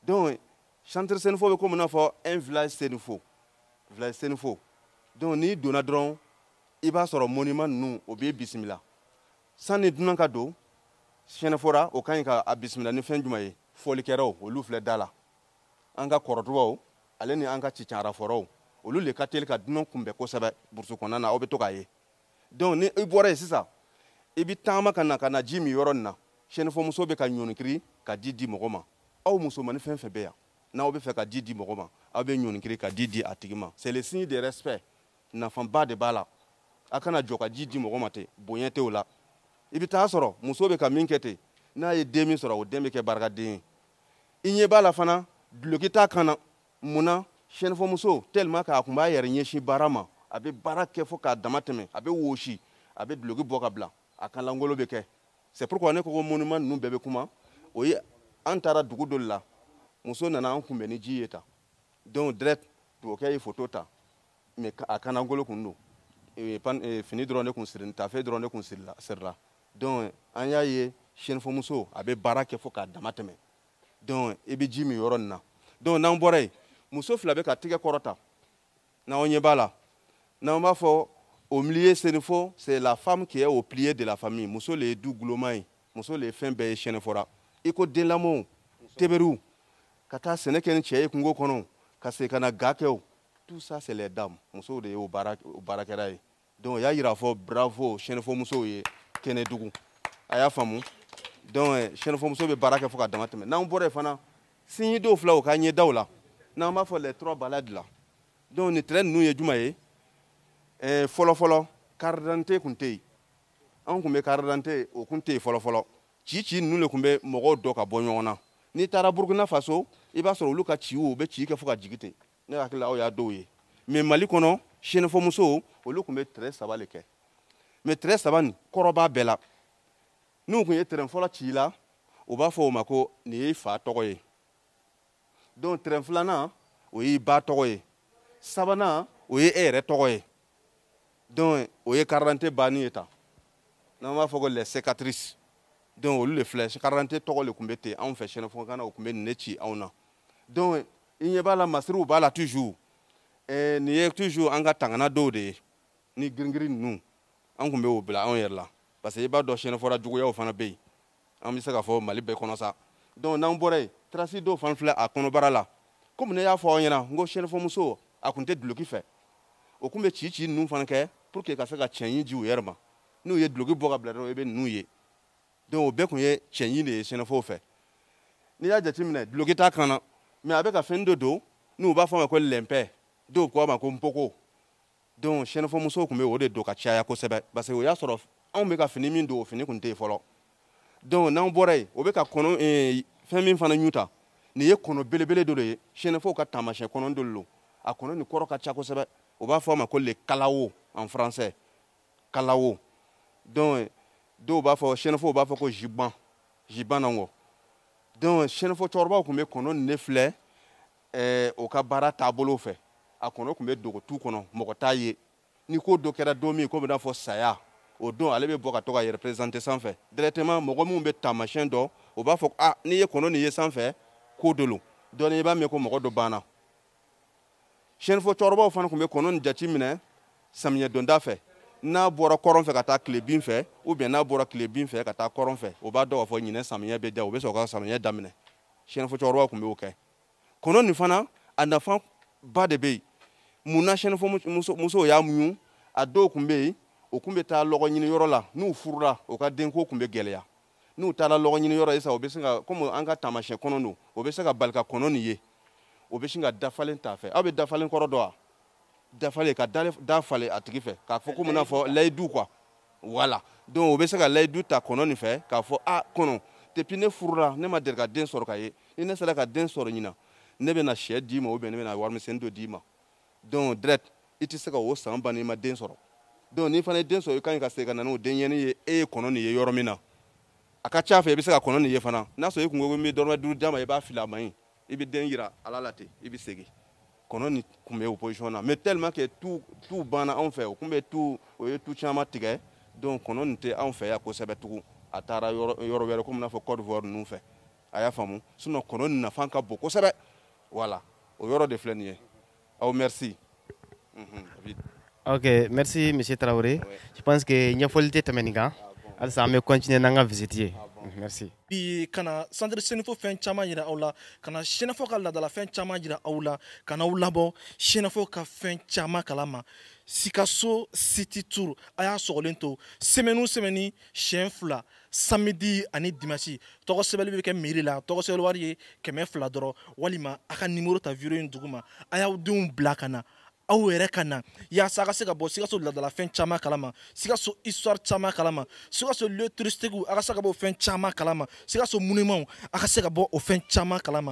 donc centre senufo bɛ komi n'a fɔ un village senufo village senufo donc n'i donna dɔrɔn i b'a sɔrɔ monument ninnu o b'i bisimila sanni dunan ka don sɛnɛfɔra o ka ɲi ka a bisimila ni fɛn jumɛn ye fɔlikɛlaw olu filɛ da la an ka kɔrɔdubaw ale ni an ka cicanrafɔrɔw olu le ka teli ka dunan kunbɛn kosɛbɛ burusu kɔnɔna na aw bɛ to k'a ye donc ni i bɔra yen sisan i bɛ taama ka na ka na ji min yɔrɔ nin na sɛnɛfɔmuso bɛ ka ɲɔnikiri ka ji di mɔgɔ ma aw musomani fɛn fɛn bɛ yan n'aw bɛ fɛ ka ji di mɔgɔ ma aw bɛ ɲɔnikiri ka ji di a tigi ma c'est le signe de respect nafaba de b'a la a kana jɔ ka ji di mɔgɔ ma ten bonya tɛ o la i bɛ taa sɔrɔ muso bɛ ka min kɛ ten n'a ye den min sɔrɔ o den bɛ kɛ barikaden ye i ɲɛ b'a la fana duloki t'a kan na mun na sɛnɛfɔmuso tellement k'a kun b'a yɛrɛ ɲɛsin baara ma a bɛ baara kɛ fo k'a dama tɛmɛ a bɛ wosi a bɛ duloki bɔ ka bila a kan langolo bɛ kɛ c'est pourquoi ne ko ko monument ninnu bɛɛ bɛ kuma o ye an taara dugu dɔ la muso nana an kunbɛn ni ji ye tan donc direct tubabukɛ ye foto ta mais a kan langolo kun don eh, eh, fini dɔrɔn de kun sirini tafe dɔrɔn de kun sirila donc an y'a ye sɛnɛfɔmuso a bɛ baara kɛ fo k'a dama tɛmɛ donc i bɛ ji min yɔrɔ nin na donc n'an bɔra yen muso fila bɛ ka tigɛ kɔrɔta n'aw ɲɛ b'a la n'an b'a fɔ au milieu senefo c'est la femme qui est au pilier de la famille muso le ye du guloma ye muso le ye fɛn bɛɛ ye sɛnɛfɔra i ko denlamɔw teberiw ka taa sɛnɛ kɛ ni cɛ ye kungo kɔnɔ ka segin ka na ga kɛ o tout ça c'est les dames musow de ye o baarakɛla ye donc o y'a yira fɔ bravo sɛnɛfɔmusow ye kɛnɛdugu a y'a faamu donc eh, sɛnɛfɔmuso bɛ baara kɛ fo ka dama tɛmɛ n'an bɔra yen fana signe dɔw filɛ o ka ɲɛdaw la n'an b'a fɔ les trois balafres la donc nin tɛrɛ ninnu ye juma ye eh, fɔlɔfɔlɔ carte d'identité tun tɛ yen anw tun bɛ carte d'identité o tun tɛ yen fɔlɔfɔlɔ ci ci ninnu de tun bɛ mɔgɔw dɔn ka bɔ ɲɔgɔn na n'i taara burukina faso i b'a sɔrɔ olu ka ciw u bɛ ci kɛ fo ka jigi ten ne hakili la aw y'a dɔw ye mais mali kɔnɔ senefɔmusow olu tun bɛ tɛrɛ saba le kɛ mais tɛrɛ saba nin kɔrɔ b'a bɛɛ la n'u tun ye tɛrɛ fɔlɔ ci i la u b'a fɔ o ma ko nin y'i fa tɔgɔ ye donc tɛrɛ filanan o y'i ba tɔgɔ ye sabanan o ye e yɛrɛ tɔgɔ ye donc o ye karidante banni ye tan n'an b'a fɔ ko les cicatrices donc olu le filɛ karidante tɔgɔ le tun bɛ ten anw fɛ senefɔkan na o tun bɛ nin ne ci anw na donc i ɲɛ b'a la masiriw b'a la toujours eh, nin ye toujours an ka tangana dɔw de ye ni gris-gris ninnu an tun bɛ o bila anw yɛrɛ la parce que i b'a dɔn sɛnɛfɔra juguyaw fana bɛ yen an bɛ se k'a fɔ mali bɛɛ kɔnɔ sa donc n'an bɔra yen trace dɔw fana filɛ a kɔnɔbara la komi ne y'a fɔ aw ɲɛna n ko sɛnɛfɔmuso a tun tɛ duloki fɛ o tun bɛ ci ci ninnu fana kɛ pour que ka se ka cɛɲi di u yɛrɛ ma n'u ye duloki bɔ ka bila dɔrɔn i bɛ ninnu ye donc o bɛɛ tun ye cɛɲi de ye sɛnɛfɔw fɛ n'i y'a jateminɛ duloki t'a kan na mais a bɛ ka fɛn dɔ don n'u b'a fɔ a ma ko lɛnpɛ dɔw ko a ma ko npoko donc sɛnɛfɔ musow tun bɛ o de don ka caya kosɛbɛ parce que o y'a sɔrɔ anw bɛ ka fini min don o fini tun tɛ yen fɔlɔ donc n'an bɔra yen o bɛ ka kɔnɔ eh, fɛn min fana ɲu ta nin ye kɔnɔ belebele dɔ de ye sɛnɛfɔw ka taamasiyɛn kɔnɔ dɔ de don a kɔnɔ nin kɔrɔ ka ca kosɛbɛ u b'a fɔ a ma ko le calao en français calao donc dɔw b'a fɔ sɛnɛfɔw b'a fɔ ko jiban jiban na nkɔ donc sɛnɛfɔ cɛkɔrɔbaw tun bɛ kɔnɔ nin de filɛ eh, o ka baara taabolo fɛ a kɔnɔ tun bɛ dogo tu kɔnɔ mɔgɔ t'a ye ni ko dɔ kɛra don min ko bɛ n'a fɔ saya o don ale bɛ bɔ ka to k'a yɛrɛ présenter sanfɛ directement mɔgɔ minnu bɛ taamasiyɛn dɔn o b'a fɔ ah n'i ye kɔnɔ nin ye sanfɛ ko dɔ lo dɔɔni i b'a mɛn ko mɔgɔ dɔ banna sɛnifo cɛkɔrɔbaw fana tun bɛ kɔnɔ nin jateminɛ samiyɛ donda fɛ n'a bɔra kɔrɔn fɛ ka taa tilebin fɛ ou bien n'a bɔra tilebin fɛ ka taa kɔrɔn fɛ o b'a dɔn k'a fɔ ɲinɛ samiyɛ bɛ da o bɛ sɔrɔ ka samiyɛ daminɛ sɛnifo cɛkɔrɔbaw tun b'o kɛ kɔnɔ nin fana a nafa ba de bɛ yen munna sɛnifo musow y'a muɲu a dɔw tun bɛ yen o tun bɛ taa lɔgɔ ɲini yɔrɔ la n'u furula o ka denko tun bɛ gɛlɛya n'u taara lɔgɔ ɲini yɔrɔ ye sa o bɛ se ka komi an ka taamasiyɛn kɔnɔ don o bɛ se ka bali ka kɔnɔ nin ye o bɛ sin ka dafalen t'a fɛ aw bɛ dafalen kɔrɔ dɔn wa dafalen ka da falen a tigi fɛ k'a fɔ komi n'a fɔ layidu quoi voilà donc o bɛ se ka layidu ta kɔnɔ nin fɛ k'a fɔ ah kɔnɔ depuis ne furula ne ma deli ka den sɔrɔ ka ye ni ne sera ka den sɔrɔ ɲinan ne bɛna sɛ d'i ma ou bien ne bɛna warimisɛnnin dɔ d'i ma donc direct i tɛ se ka o san ban n'i ma den sɔrɔ donc n'i fana ye den sɔrɔ i ka ɲi ka segin ka na n'o denɲɛnin ye e ye kɔnɔ nin ye yɔrɔ min na a ka ca fɛ i bɛ se ka kɔnɔ nin ye fana n'a sɔrɔ i kun ko ko n bɛ dɔrɔmɛ duuru d'a ma i b'a fili a ma yen i bɛ den yira ale la ten i bɛ segin kɔnɔ nin tun bɛ o position na mais tellement que tu tu banna anw fɛ o tun bɛ tu o ye tu caman tigɛ donc kɔnɔ nin tɛ anw fɛ yan kosɛbɛ tugun a taara yɔrɔ yɔrɔ wɛrɛ komi n'a fɔ Côte d'Ivoire ninnu fɛ a y'a faamu sinon kɔnɔ nin nafa ka bon kosɛbɛ voilà o yɔrɔ de filɛ nin ye aw merci mhm, ok merci monsieur traoré je pense que ɲɛfɔli tɛ tɛmɛ nin kan ah, halisa an bɛ continuer n'an ka visite ye ah, mhm, merci bi ka na centre senefo fɛn caman yira aw la ka na senefo ka ladala fɛn caman yira aw la ka n'aw labɔ senefo ka fɛn caman kalama sikaso city tour a y'a sɔgɔlen to semaine o semaine siɲɛ fila samedi ani dimasi tɔgɔ sɛbɛli bɛ kɛ mairie la tɔgɔ sɛbɛli wari ye kɛmɛ fila dɔrɔn walima a ka numéro ta vidéo in duguma a y'aw denw bila ka na aw yɛrɛ ka na yaasa a ka se ka bɔ sikaso ladalafɛn caman kalama sikaso histoire caman kalama sikaso lieu touristique a ka se ka bɔ o fɛn caman kalama sikaso monument a ka se ka bɔ o fɛn caman kalama